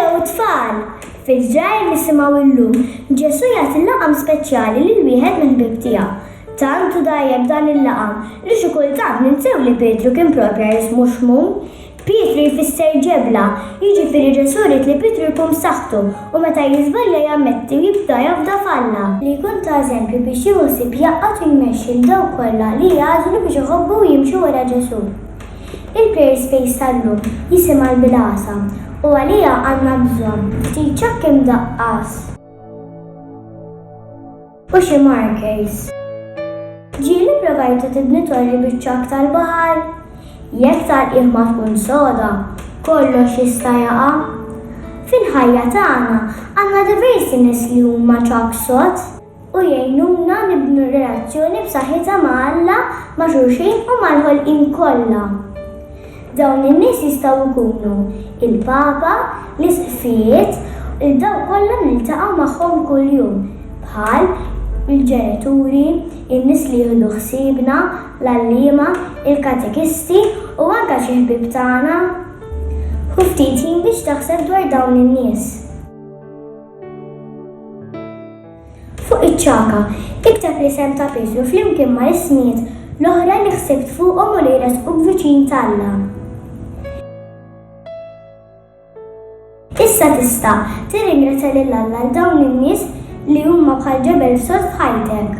Hello tfal! Fil-ġrajr nisimgħu llum Ġesu jagħti laqam speċjali lil wieħed mill-ħbieb tiegħu. Tant hu dgħajjeb dan il-laqam li xi kultant ninsew li Pietru kien proprja jismu Xmun. Pietru jfisser ġebla, jiġifieri Ġesu ried li Pietru jkun b'saħħtu u meta jiżbalja jammetti u jibda jafda f'Alla. Li jkun ta' eżempju biex jieħu ħsieb jgħaqqad u jmexxi 'l dawk kollha li jagħżlu biex iħobbu u jimxu wara Ġesu. Il-Prayer Space tal-lum jisim għal bil-għasa u għaliha għandna bżonn ftit ċokk imdaqqas u xi markers. Ġieli provajtu tibni torri biċ-ċokk tal-baħar? Jekk tal-qiegħ ma tkun soda, kollox jista' jaqa'. Fil-ħajja tagħna għandna diversi nies li huma ċokk sod. u jgħinuna nibnu relazzjoni b'saħħitha ma' Alla, ma' xulxin u mal-ħolqien kollha. Dawn in-nies jistgħu jkunu, il-Papa, l-Isqfijiet, u dawk kollha li niltaqgħu magħhom kuljum, bħal, il-ġenituri, in-nies li jieħdu ħsiebna, l-għalliema, il-katekisti, u anke xi ħbieb tagħna. Ħu ftit ħin biex taħseb dwar dawn in-nies. Fuq iċ-ċaka, tikteb l-isem ta' Pietru flimkien ma' ismijiet l-oħra li ħsibt fuqhom u li jressquk viċin t'Alla. Issa tista' tirringrazzja lil Alla għal dawn in-nies li huma bħal ġebel sod f'ħajtek.